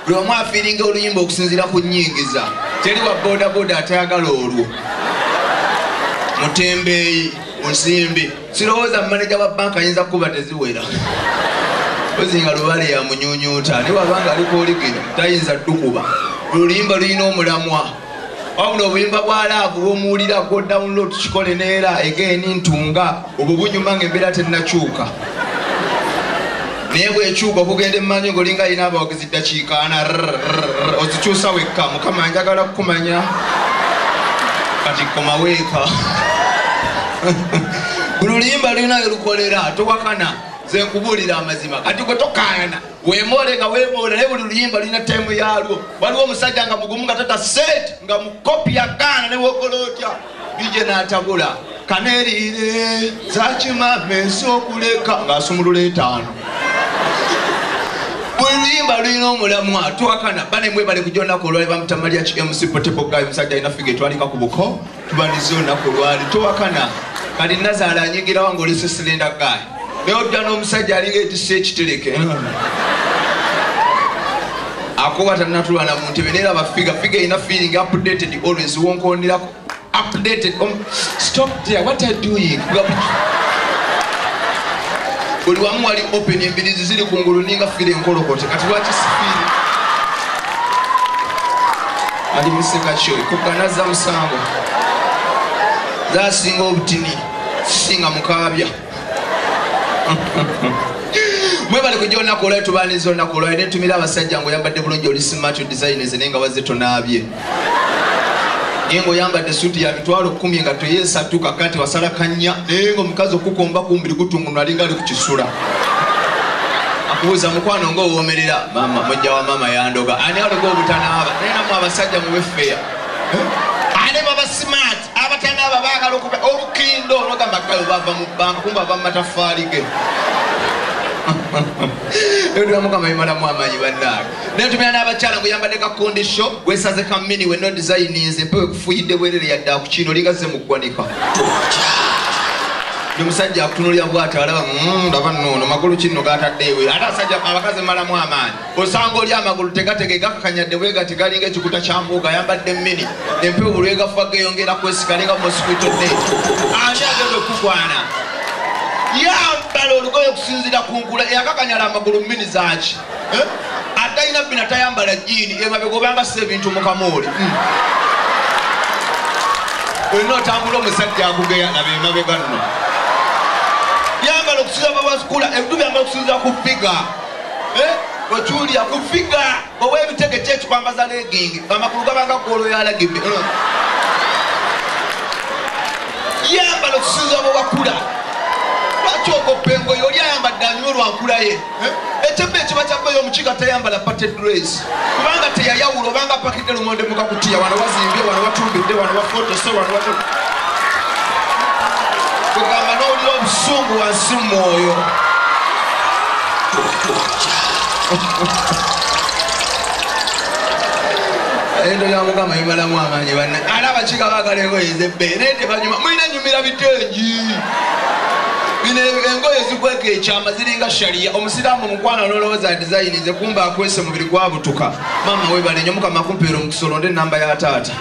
buli omu afiiringa oluyimba okusinziira ku nyingiza teri wa bodaboda atayagala olwo mutembeeyi musimbi sirowooza mumaneja wa banka ayinza kukuba teziwera ozinga lubale yamunyunyuuta ne wabanga alikuoligino tayinza dukuba oluyimba lulina omulamwa wabula obuyimba bwa laavu bwomuwulira go download kikole neera egeeni ntunga obwo bunyuma nga embeera tennakyuka naye bwekyuka okugenda emmanyi ngaolinga alina abawagizi ddakiikaana ozikyusa wekka mukama njagala kukumanya kati komaweeka buli luyimba lulinayo lukolera towakana zenkubulira amazima kati gwe tokaana wemoole nga wemoola naye buli luyimba lulina temu yalwo waliwo omusajja nga mugumu nga tata sente nga mukopi yagaana newokola otya bije natabula kanerire zakimama ensi okuleka ngaasumulula etaano buli luyimba lulina omulamu atwakana banemwebale kujonaku olwali bamutamalya ki mc potebogayi omusajja alina figa etwalika ku buko tubaniza olunaku olwali towakana kati nazaala anyigirawo nga olese silenda gaali naye odda n'omusajja alinga ekisa ekitereke akuba tanatulwana mu ntebe naye laba figa figa erina feeling updated always wonkonderako updated um, stop there what are doing buli wamu wali open embirizi ziri ku ngulu ninga fire enkolokote kati lwaki sifiire ali museka kyo kuganazza musango zasinga obutini sisinga mukaabya mwebale kujja olunaku olwayo tubaniza olunaku olwayo netumira abasajja nga oyambadde bulungi oli simato designs naye nga wazze tonaabye naye ngaoyambadde suuti ya mitwalo kumi nga toyesatu kakati wasala kanya naye nga omukazi okukomba kumbiri gutungunwa alinga kisula akubuuza mukwano nga owomerera mama mujja wa mama yandoga ani aliko obutanaaba naye namu abasajja mubefeya ane baba smart abatanaaba bagala okuba olukindo nogamba kayo bava mu banka kumba bava mumataffaali ge ebyo tula mukama bimalamu amanyi bannaaga nentumira n'abakyala gwe yambadde ka kondisho gwesaze ka mini we nodizayininze mpewe kufuyidde bwerere yadde akukiina oligazze mu ggwanika ndi musajja akutunulira bwati alaba mm, ndaba noono magulu kinno gatadde ewe ate asajja abakazi malamu amaanyi osanga oli amagulu tegatege gakakanyadde bwe gati galinga ekikuta kya mbuuga ayambadde mini empewo bulwegafuba geyongera kwesikalinga mosquito net ani agenda okukwana yambala olugoye okusinzira ku nkula eyakakanyala amagulu mini zaaki eh? atalina bina tayambala jiini emabega obanga si ebintu mukamooli hmm. olina otambula omusajja akugeya laba emabega nno yambala okusinza bawasukula ebintu byambala okusinza ku figa eh? okiwulira ku figa owa ebitege kyekikwambaza legingi amakulu gabanga golo yalagibbe hmm. yambala okusinza bawakula lwaki okopengoyo oli ayambadde anywa olwankulaye ekyemba ekiba kyakweyo omukiga tayambala pated grace kubanga teyayawula obanga pakidde lumonde mukakutiya wano wazimbye wano watumbidde wano wafotose wano watu kugamba nowulira obusungu wansi mumwoyo endo yamugamba imalamu amaanyi banna alaba kiga bagala engoye zebbeere tebanyuma banyumira bitengi bino engoye zikweka ekyama ziringa shariya omusiraamu mukwano ololowooza dizayini ze kumba akwese mubiri gwabutuka maama webalenyo mukama kumpeera omukisa olonde enamba ya taata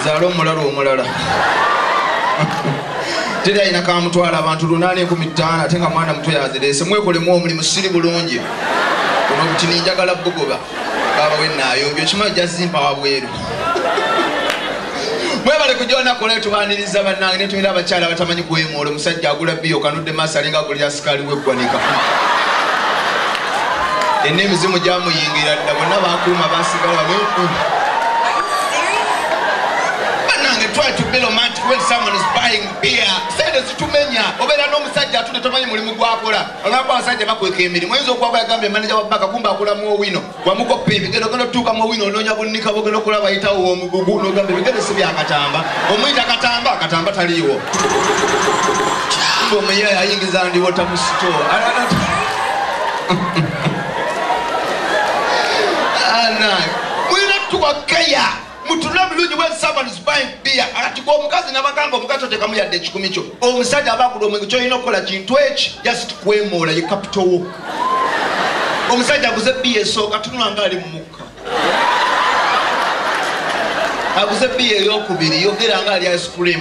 zaala omulala omulala teri ayina kamutwala abantu lunaana enkumi ttaano ate nga mwana muto yazireese mwekolemu omulimu siri bulungi ono obutini njagala bugoba baba wenayombi okimanyi jazimpa wabweru mwebale kujonakola etubaniriza banange netumira abakyala abatamanyi kuwemuula omusajja agula biyo kanudde maaso alinga agulira sikaali weggwanika enna emizimu gyamuyingira dda bonna bakuuma basigala banange try to be romantic when someone is buying beer sente zitumenya obeera n'omusajja atune tomanyi mulimu gwakola Olaba abasajja bakweka emirimu oyinza okwaba yagambye maneja wa baka kumba akula mu owino wamukoppa ebigendo ogenda otuuka mu owino onoonya bunnika bogenda okulaba bayitawo womugugu nogamba ebigendo si byakatamba omuyita katamba katamba taliiwo kumba omuyaye ayingiza ndiwota mu sito mulina tuwa keya mutunule obulungi when someone is buying beer ati gwe omukazi nabagamba omukazi otekamu yadde ekikumi kyo omusajja aba agula omwenge kyolina okukola kintu eki just kwemoola ye capital wo omusajja aguze biya esooka tunula nga ali mumukka aguze biya eyokubiri yogera nga ali ice cream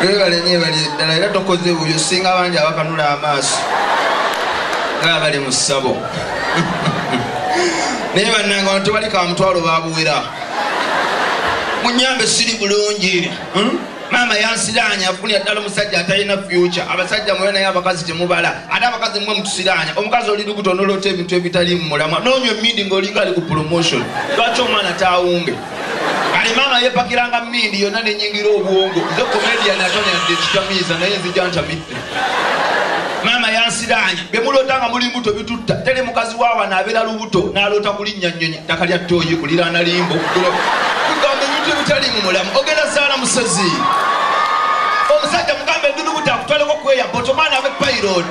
webale nyo ebali eddala era tokoze buyo singa bangi abakanula amaaso nga bali mu ssabo naye bannanga wano tebali ka mutwalo babuwera munyambe siri bulungi hmm? maama yansiraanya afunira ddala omusajja atalina fyuca abasajja mwe naye abakazi temubala ate abakazi mwe mutusiraanya omukazi oli lukuta onoloota ebintu ebitali mu mulamwa noonywa emindi ng'olinga ali ku promotion lwaki omwana taawunge kale maama yepakiranga mindi yonna nenyingira obwongo nze komedian atonyadde ekitamiiza naye nzija ntamidde maama yansiraanya byemuloota nga muli mbuto bitutta teri mukazi waawa nabeera lubuto naloota kulinnya nnyonyi ttaka lya ttooyi kuliraana limbo kugamba ebintu ebitali mu mulamu ogenda zaala musezi omusajja mugamba edulubuta akutwaleko kweya botomaana abe pairod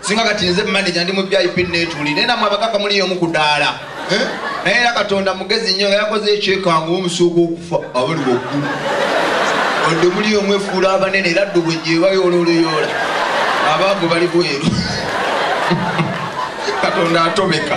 singa kati nze manaja ndi mu vip netuli naye namwe abakaka muli yomu ku daala eh? naye era katonda mugezi nnyo nga yakoze ekyekangu omusooka okufa abali waggulu odde muli yomu efuula abanene era ddubwe gyebayoola oluyoola abaavu bali bweru katonda atobeka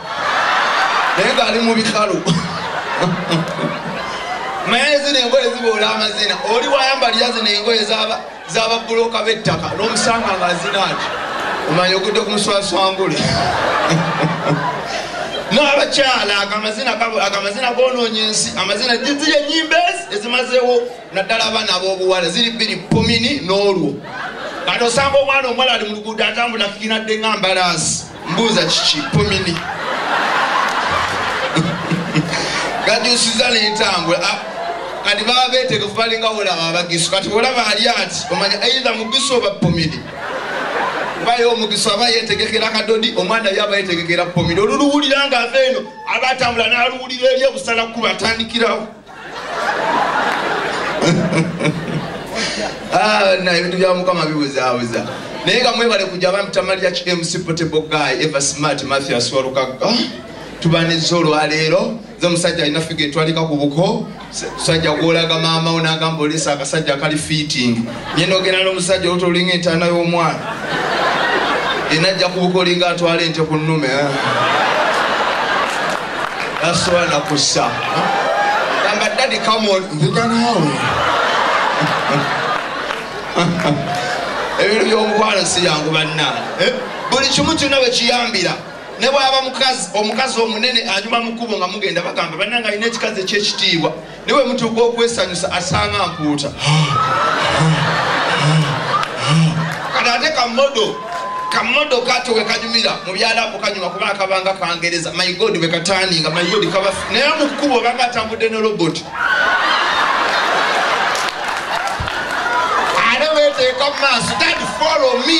naye ngaali mu bikalu naye zino engoye ziboola amazina oli wayambalira zino engoye zababuloka bettaka nomusanga nga zinaaki omanya ogudde ku muswaswangule n'abakyala agamazina gononya ensi amazina ziri enyimba ezi ezimazewo naddala abaana ab'obuwala ziri bbiri pomini n'olwo kati osanga omwana omuwala ali mu luguudo atambula kikinadde nga mbalaasi mbuuza kiki pomini gajusiza nentambula ah, kati baba betegefu balinga olaba abagisu kati olaba ali ati omanya aidha mugisu oba pomini bayo omugisu aba yetegekera kadodi omwana yo aba yetegekera pomini oluluwulira nga ava eno aba atambula naluwulira eri obusala kuba atandikirawo Ah, na ebintu bya mukama bibuzaabuza naye nga mwebale kujja abantu tamalira ki mc potable guy eva smart mathias walukagga ah, tubanizza olwaleero nze omusajja alina figa etwalika ku buko musajja gwolaga maama wo nagamba olesa akasajja akali fitting nye nogenda nomusajja oluta olinga entaana y'omwana enajja ku buko olinga atwala ente ku nnume ah. nasobola nakussa gamba dadi kamon ndiga naawe ebintu byomukwano si yangu banna eh? buli kimu kyonna bwe kiyambira ne bwaba mukazi omukazi omunene anyuma mukubo nga mugenda bagamba banna nga alina ekikazi ekyekitiibwa ne bwe mutuuka okwesanyusa asanga mpuuta kati ate kamodo kamodo kato we kanyumira mu byalabu kanyuma kuba akabanga kangereza my god we kataninga my god kaba naye mu kkubo obanga atambudde ne robot ate weteeka mu maaso dad follow me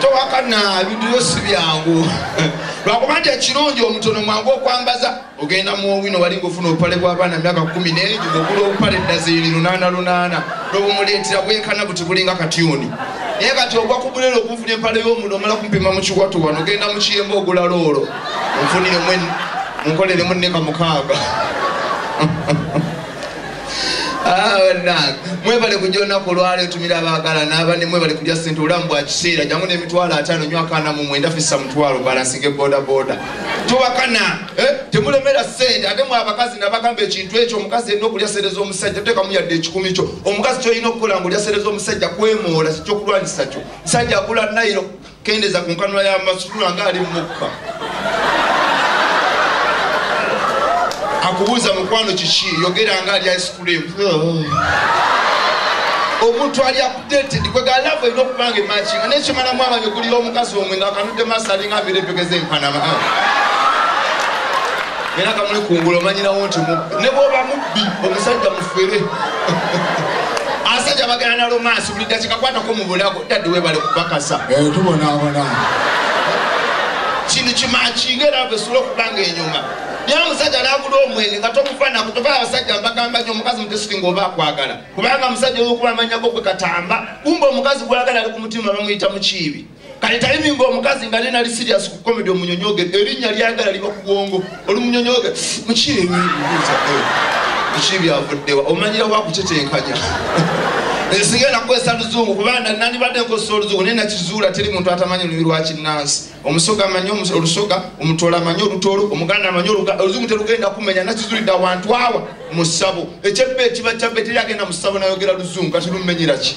towakana ebintu byo si byangu lwakuba nti ekirungi omutono mwangu okwambaza ogenda muwino wali ngaofuna obupale bwabaana myaka kumi naye ogula obupale dazini lunaana lunaana nobumuleetera bwenkana buti bulinga katyuni naye kati ogwa kubulera okunfuna empale yomuno omala kumpima mukiwato wano ogenda mukiyemba ogula loolo onfunire munkoleremu neka mukaaga Ah, mwebale kujja olunaku olwala etumira abagala nabane mwebale kulya sente olamu bwa kiseera jangu nemitwalo atano nyo akana mu mwenda fisa mutwalo balansinge bodaboda tubakana eh, temulemera sente ate mwe abakazi nabagamba ekintu ekyo omukazi erina okulya sente z'omusajja tekamu yadde ekikumi kyo omukazi kyolina okukola nga olya sente z'omusajja kwemoola kikyokulwanyisa kyo musajja agula nairo Kendeza ku nkanula ya masukulu nga ali mukka. Akubuuza mukwano kiki yogera nga ali ice cream. Omuntu ali updated kwe ga love eno kubanga matching ne chimana mwaba nyukuli lo mukazi omwe nga kanude masali nga bile pekeze mpana ma. Era kamuli kungulo manyira wonti mu ne boba mubbi omusajja mufere. Asajja bagana na romance buli dakika kwata ko mu bulago. dadi webale kukakasa eh, tubonabona kintu kimakinga era vesula okubanga enyuma naye omusajja nagula omwenge nga tomufanako tofaa abasajja mbagamba nyo omukazi mutesitinga oba akwagala kubanga omusajja olwokuba amanyako gwe katamba kumba omukazi gwagala ali ku mutima bamuyita mukiibi kale tayimi nga omukazi nga nenali sirias ku komedi omunyonyoge erinnya lyagala liba kubwongo olumunyonyoge mukiibuuza eh, mukiibyavuddewa omanyira wakutetenkanya ensinga enakukozesa luzungu kubanga nandibadde nkozesa oluzungu naye nakizuula teri muntu atamanyi olulimi lwakinnansi omusoga amanyi olusoga omutola amanyi olutoolo omuganda amanyi oluzungu terugenda kumenya nakizulidde awantu awa mu ssabo ekyebba ekiba kyabba teri agenda mu ssabo nayogera luzungu kati lumenyeraki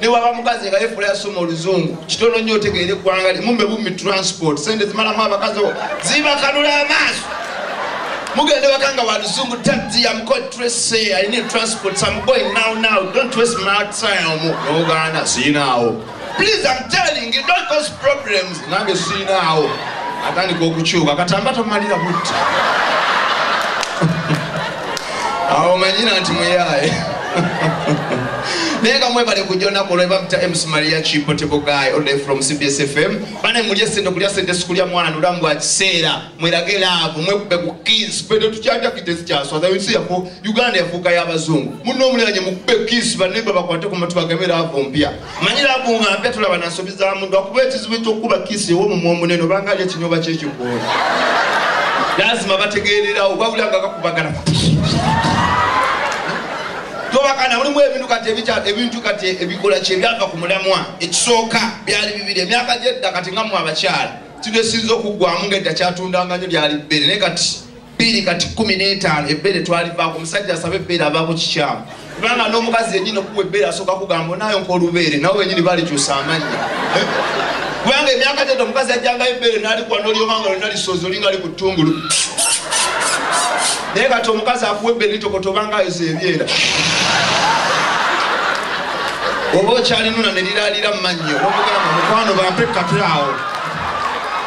newaba mukazi nga yefula yasoma oluzungu kitono nnyo otegeere eggwanga limumbe bumi transport sente zimalamu abakazi zibakanula amaaso mugende waka nga waluzungu taxi yamkotrese alina etransport some boy now now don't waste my time omu noganda siyinaawo please i'm telling you don't cause problems nange siinaawo atandika okukyuka katamba tomalira butti awo manyira nti muyaaye naye nga mwebale kujja onaku olwo ebamta ms maria chipotebogayi oday from cbs fm bane mulye sente okulya sente sikulya mwana nolamu bwa kiseera mwerage laavu mwekube ku kis pete tukyajakite zikyaswaza ensi yafu uganda yafuuka y'abazungu munno omuliranye mukube kis banemba bakwate ku matu bagame laavu mpya manyi labu nga mpya tulaba na nsobi za muntu akuba ekizibu ekyokukuba kiisi ew'omumwa omunene obanga ali ekinyoba kyekikoola lazima bategeererawo wabula nga kakubagala tobakana mulimu ebintu kati ebintu kati ebikola kyebyava ku mulamwa ekisooka byali bibiri emyaka gyedda kati nga mwe abakyala kino esinza okuggwamu nga edda kyatundanga nyo lyali bbere naye kati biri kati kumi n'etaano ebbeere twalivaako omusajja asaba ebbeere avaako kikyamu kubanga n'omukazi yenyini okuwa ebbeere asooka kugamba onayo nkaolubeere nawe wenyini balikyusa amannya eh? kubanga emyaka tete omukazi ajjangayo ebbeere nalikuwa nolyomanga lona lisoozi olinga li ku ttungulu naye kati omukazi akuwa ebbeere litokoto obanga yoza ebyera oba okyalinuna ne liraalira mu mannyo omugamba mukwano bampe katulawo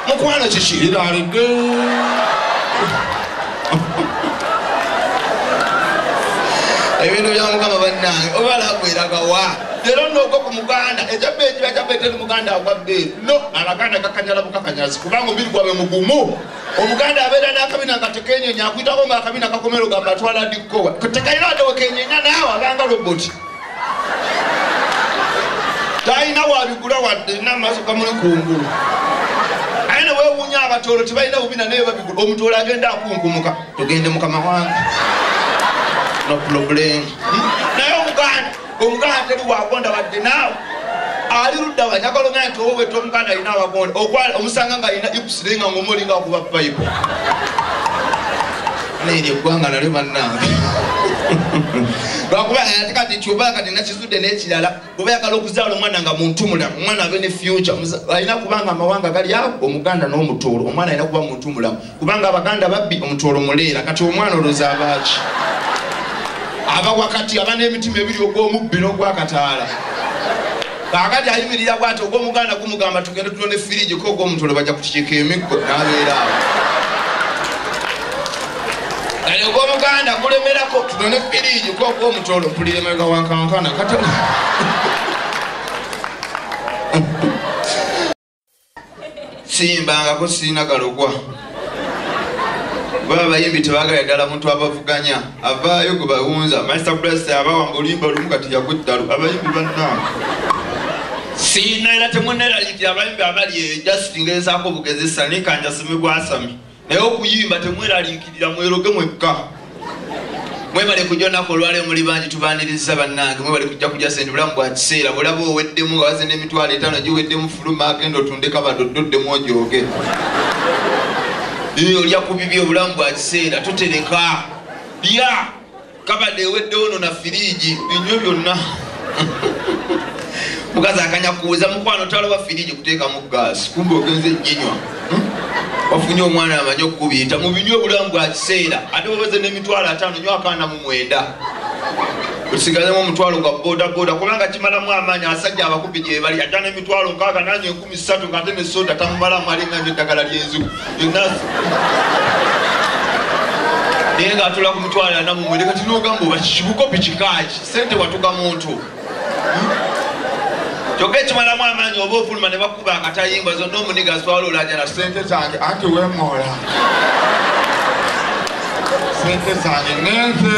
mukwano kiki liralidde ebintu bya mukama bannange obalagweragawa lero nogo ku muganda ekyabba ekiba kyabba eteri muganda agwabbe no abaganda kakanyala bukakanyazi kubanga omubiri gwabe mugumu omuganda abeera n'akabina nga tekenyenya akuyitako nga akabina kakomero gamba atwala dikkowa tekalina adewekenyenya naawe abanga roboti talina wabigula wadde namaaso gamuli kungulu aye newewunya abatoolo tebalina bubina naye babigula omutoolo agenda akunkumuka togende mukama wange no problem hmm? naye omuganda omuganda teri wagonda wadde naawe ali luddawa njagala ogenda nti owo weta omuganda alina abagonda omusanga nga alina ikusirenga ngaomulinga okuba bible naye lye ggwanga nalyo bannange lwakuba ate kati kyoba kati nakizudde n'ekirala oba yagala okuzaala omwana nga muntu mulamu omwana abe ne future alina kubanga amawanga gali awo omuganda n'omutoolo omwana alina kuba muntu mulamu kubanga abaganda babbi omutoolo muleera kati omwana oloza abaaki aba wakati aba n'emitima ebiri ogw'omubbi n'ogwakataala kaakati ayimirira bwati ogw'omuganda gumugamba tugende tulonde firigi ko ogw'omuntu olwo bajja kukikiika emiggo n'abeera awo kale ogw'omuganda gulemerako tulonde firigi ko ogw'omuntu olwo mpulira emabega wankankana kata siyimbangako sirina galogwa baba bayimbi tebagala ddala muntu abavuganya avaayo gwe bawunza master plus abawa nga oluyimba olumu kati yakuddalu abayimbi bannange siina era temunerayiti abayimbi abali eyo just ngezaako obugezesa nikanjasimigwasami naye okuyimba temweraliikirira mweroge mwekka mwebale kujja onaku olwaleo muli bangi tubaniriza bannange mwebale kujja kujja sente bulamu bwa kiseera bulaba oweddemu nga waze n'emitwalo etaano giweddemu fuluma agenda otundeka badododdemu ojooge olya ku bibi obulamu bwa kiseera totereka lya kabade eweddewo no na firiigi binywe byonna mukazi akanya kuweza mukwano talowa firiigi kuteekamu gaasi kumbe ogenze jinywa hmm? wafunye omwana amanyi okukubiyita mubinywa obulamu bwa kiseera ate wabeze n'emitwalo ataano nyo akaana mu mwenda osigazemu omutwalo gwa bodaboda kubanga kimalamu amaanyi asajja abakubi gyebali ata n'emitwalo nkaaga nanye misatu nga ate ne soda tamumalamu alinga nyo eddagala lyenziku yonna naye nga atula ku mitwalo ana mumwe leka tinogamba oba kikikopi kikaaki sente watuka muntu kyokka ekimalamu amaanyi oba ofuluma ne bakuba akatayimba zonna omuniga aswala olajala sente zange anti wemoola sente zange nenze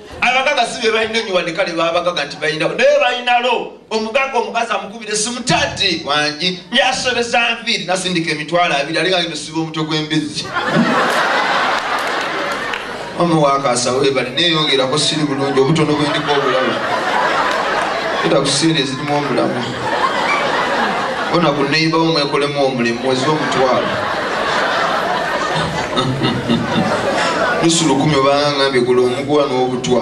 abagaga si bebalina enyo wadde kale babagaga nti balina naye balinalo omugaga omukazi amukubira esimu tati wangi yasobeza nviiri nasindika emitwalo abiri ali ngagenda osiba omutwe gw'embizzi omu wakasa webale neyongerako siri bulungi obutono bwendiko obulaba era kusiira ezirimu omulamu bona ku neiba wo mwekolemu omulimu mwezi omutwalo nusu lukumi obanga ngambye gula omuguwa n'obutwa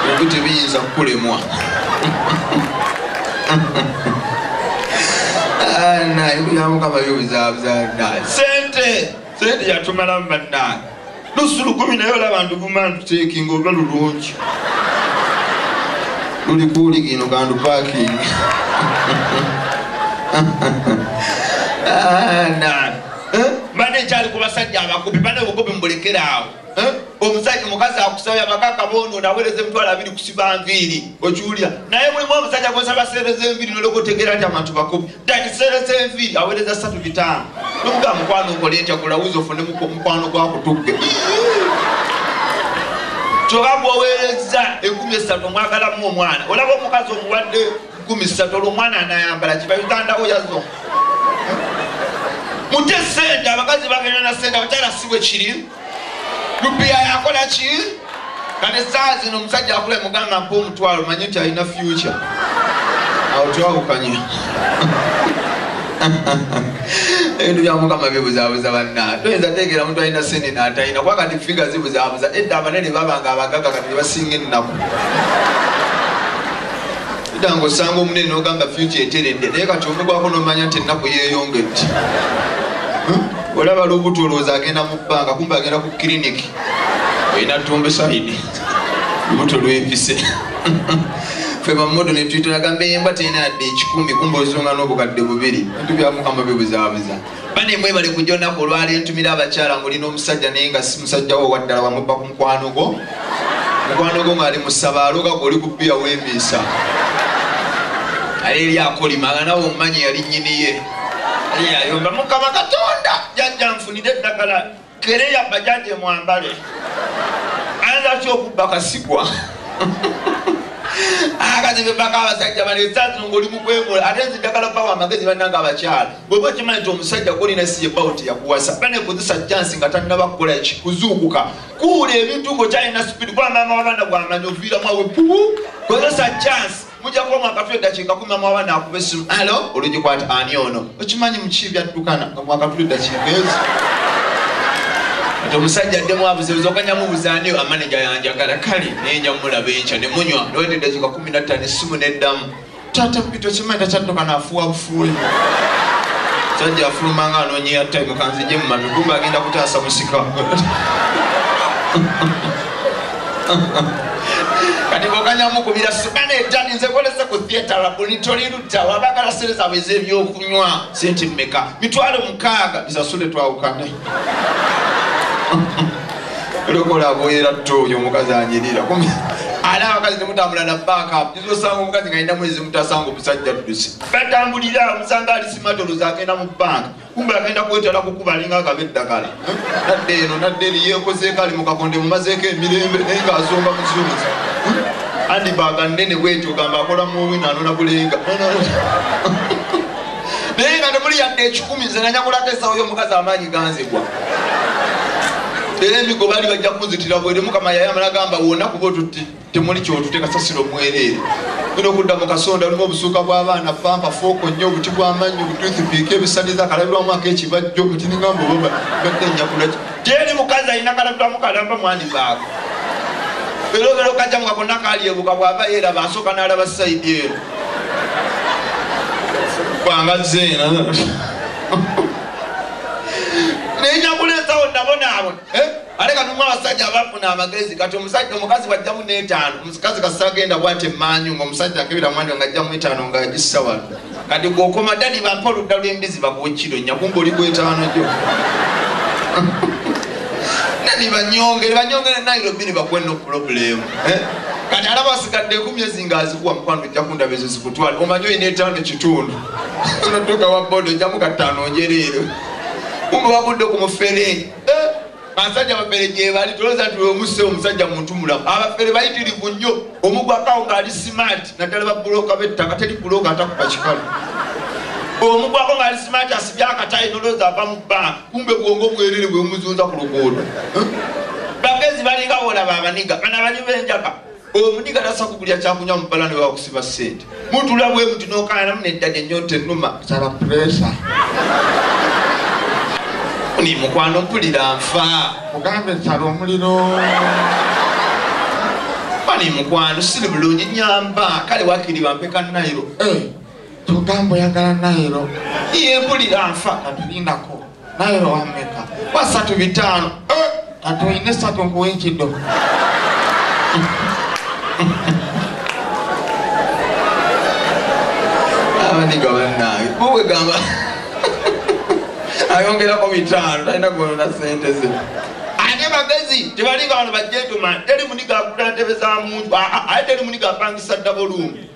ebyo tebiyinza kukulemwa ah, naye buyamukama byo bizabuzaa sente Sente yatumalamu bannange. Lusu lukumi naye olaba nduguma nduteekinga olwa lulungi. Luli kuuligi ino kandu paakingi. Ah, eh? Mbadde nkyali ku basajja abakubi bane obukubi mbulekera awo. Eh? Omusajja mukazi akusabye abakaka bono nawereza emitwalo abiri kusiba nviiri okiwulira naye mulimu omusajja gwosaba seereza enviiri nolokotegeera nti abantu bakubi ekiseera kyenviiri awereza satu bitaano nokuga mukwano okola etya gulawuzi ofune mukwano gwakutugge kyoba gwowereza ekumi esatu omwagalamu omwana olaba omukazi omuwadde kumi satu olwo omwana anayambala kiba ugandawo yazo mute sente abakazi bagenda na sente abakyala sibwe kiri lubi ayakola ki kati saa zino omusajja akula mugamba mpa omutwalo manye nti alina future awo twawukanye ebintu byamukama bibuzabuza banna toyinza tegera omuntu alina sente natalina kuba kati figa zibuzabuza edda abanene babanga abagaga kati nebasinga ennaku danga osanga omunene nogamba future eteredde naye kati omugwako nomanya nti ennaku yeyongedde olaba lubuto olowooza agenda mu bbanga kumbe agenda ku kiriniki olina tumbesaidi lubuto lwepise fe bamodo netwitulagamba embwa terina yadde ekikumi kumba ozunga n'obukadde bubiri bintu byamukama bibuzaabuza bane mwebale kujja onaku olwali entumira abakyala ngolina omusajja naye nga si musajja wo waddala wamubba ku mukwano gwo mukwano gwo ngaali musaba aloga gwe oli kubbiya wemiisa ali eri akolima nga nawe omumanyi yali nyiniye eyayomba mukama katonda jajja nfunire eddagala kereya bajaje mwambale ayinza atya okubba kasigwa akazi bebaka abasajja bano esazi ngaoli mukwemola ate nzi ddagala bawa amagezi bananga abakyala bweba okimanyi nti omusajja golina siye bawo teyakuwasa banekozesa jansi nga tannaba kukola ki kuzuukuka kuwula ebintu ngaokyalina supidi kuba maama wabaana gwamanyi oviiramu awe pubu kozesa jansi mujja kubamu akatwa eddakiika kumi amwaba naakuba essimu alo olugikwata ani ono okimanyi muki byaddukana nga mwakatula eddakiika ezo ati omusajja addemu abuzebuza okanya mubuza ani amaneja yanjagala kale naye nja mulaba enkya ne munywa noweta eddakiika kumi nattano essimu n'eddamu taata mpita okimanyi takyadduka naafuwa bufuuli sajja afuluma nga anonyeya time kanzije mu matu kumba agenda kutaasa musika kati boganya mukubira sibana ejani nze kolese ku theatre labuni toli lutta wabagala sente zabwe ez'ebyokunywa sente mmeka mitwalo mukaaga bisasule twawukane lokola bwera tto oyo omukazi anyirira ali abakazi temutambula na baka nizosanga omukazi nga alina mwezi mutasanga omusajja ddusi batambulira omusanga ali simatolozi agenda mu banka kumbe agenda kwetala kukuba alinga agaba eddagala nadde eno nadde eri yekozeeko ali mukakonde mumazeeko emirembe naye nga azomba muzunzi andi baga nene bwetyo gamba akola muwi nanona bulenga naye nga nemuli yadde ekikumi nze nanyakulako esawo yomukazi amaanyi ganzigwa era emigo bali bajja kunzitira bwere mukama yayamala gamba wona kuba otutti temuli kyotute kasasiro mwereere ina okudda mu kasonda lumu obusuuka bw'abaana pampa fooko nnyo obuti bw'amannyi obututhipiika ebisaniza akalabirwamu ak'ekibajjo otinigamba obaba badde njakula gyeri mukazi alina kalabirwamu kalamba mwani baako era obeera okajja mu kakonna kalyebuka bw'aba yeeraba asooka n'alaba sayidi eno kwanga zeena naye nyakuleesawo nabonaabona eh? ate katumu abasajja abafuna amagezi kati omusajja omukazi bwajjamu n'etaano omukazi kasita agenda bwati emmanyu ngaomusajja akebera mwanja ng'ajjamu etaano ng'agissa wano kati gwokoma dadi bampa oludda lw'embizi bakuwa ekkiro nyakumba oli gwetaano gyo nani banyongere banyongere nairobi ne bakuwa no pulobulemu eh? kati ala basigadde ekumi ezi ngaazikuwa mukwano ojja kundaba ezo zikutwala omanyi olina etaano kitundu onotuuka wa boda ojjamu kataano njereero kumbe wagudde ku mufere Eh, basajja bafere gyebali toloza nti wemuse omusajja muntu mulamu abafere bayitirivu nnyo omugwakawo ngaali simaati naddala babuloka bettaka teri buloka atakuba kikalu omugwako ngaali simaati asibye akatayi noloza ava mu bbanga kumbe bwongo bwerere bwemuzunza ku luguudo eh? bagezi balinga bolaba abaniga bana bali benjaka omuniga nasa kugulya kyakunywa mubala ne wakusiba sente mutula bwe muti nokayanamu neddada enyonta enuma sala puresa ni mukwano mpulira nfa mugambe nsala omuliro ani mukwano siri bulungi nyamba kale wakiri bampeka nairo eh, tugambo yagala nairo ye mpulira nfa natulindako naye lowameka basatu bitaano eh, atuine satu nkuwa ekido abaniga banange muwe gamba ayongerako bitaano talina kuonona sente ze ate bagezi tebali bantu bajetuman teri muniga agula ntebe za muntu aye teri muniga apangisa ddabolungi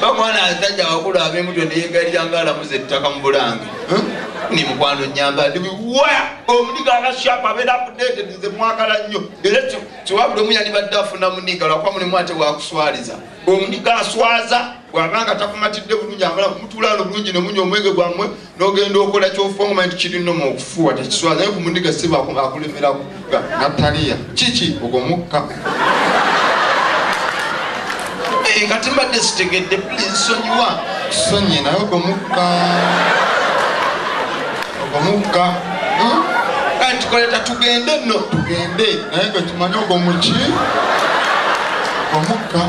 bamwana asajja wakulu abemutwe neyegalira nga alamuza ettaka mu bulange ni mukwano nyamba ndi wa omuniga akashapa abeera updated nze mwagala nnyo era kiwabula omu yalibadde afuna muniga lwakuba mulimu ate wakuswaliza omuniga aswaza bwabanga takumatidde bulungi amala kumutulaano bulungi nemunya omwenge gwammwe nogenda okola kyofuangoma nti kiri noma okufuwa tekiswala naye kumundiga siba akulemera kuga nataliya kiki ogwo mukka eh, kati mbadde sitegedde please sonyiwa sonyi naye ogwo mukka ogwo mukka hmm? kati tukoleta tugende no tugende naye gwe kimanye ogwo muki omukka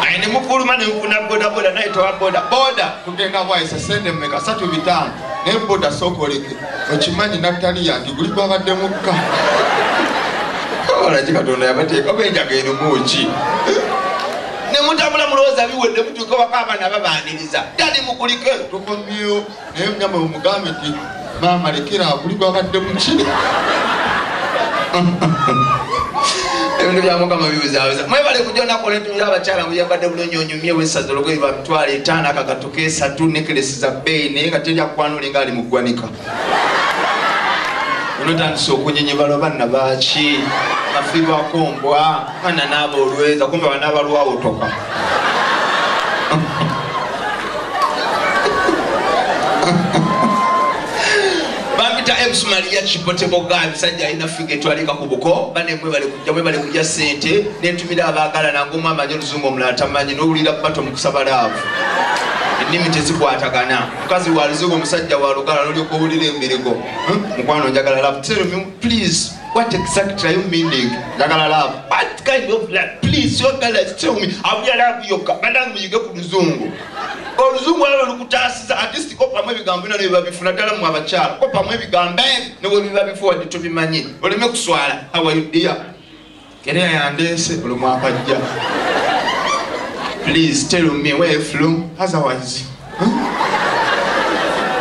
ayi nemufuluma nemufuna bodaboda naye towa bodaboda Genda bwayisa sente meka satu bitano naye boda sokoleke okimanyi nattani yange guli gwabadde mukka olaki katonda yabateeka oba enjaga erimuki nemutambula mulowooza biwedde mutuuka waka abaana babaniriza dali mukulike tukomyewo naye nyama omugambe ti maama lekera aguli gwabadde muki ebintu byamukama bibuzabuza mwebale kujonakola entuuza abakyala muyambadde bulungi onyumye wesaza olugoye lwa mitwalo etaano akagatuka esatu nekelesi za bbeeyi naye nga teri akwana olinga ali mu ggwanika onotandisa okunyenyebala obanna baaki afirwako mbwa kana nabo olweza kumbe wanabalwawotoka bampita ems maria kipoteboga abisajja alina figa etwalika ku buko banemwe balikuja mwe balikuja sente nentumira abagala nangomu amanyi oluzungu omulala tamanyi nowulira bato mukusaba laavu ennimi tezikwatagana mukazi waluzungu omusajja walugala nolyoka owulira emberego hmm? mukwano njagala laavu tell me please What exactly are you meaning? Njagala love. What kind of love? Please, your girl has tell me. Awulira love yokka. Banange muyige ku luzungu. Oluzungu alo lukutaasiza at least kopamu ebigambo bino nebiba bifuna ddala mu abakyala. Kopamu ebigambo ne bwe biba bifuwadde tobimanyi. Oleme kuswala. How are you dear? Kerea yandeese buli mwaka ajja. Please tell me where you from otherwise.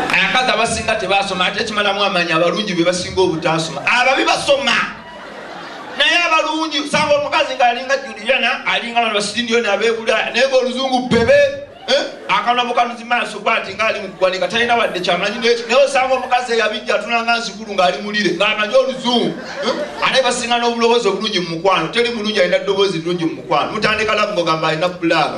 Abakazi abasinga tebaasoma ate kimalamu amaanyi abalungi be basinga obutaasoma. Ababi basoma. Naye abalungi usanga omukazi ng'alinga Juliana alinga bano basindiyoni abeebula naye ng'oluzungu bebe. Eh? akanula mukanuzi maaso bwati ngaali mukugwanika talina wadde kyamanyi naye osanga omukazi eyabijja atunanga nzikulu ngaali mulire ngaamanyi oluzungu eh? ate basinga n'obulowoozi obulungi mu mukwano teri mulungi alina ddoboozi lirungi mu mukwano mutandika labu ngogamba alina bulaga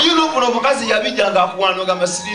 yino kuno omukazi yabijja ngaakuwana ogamba siri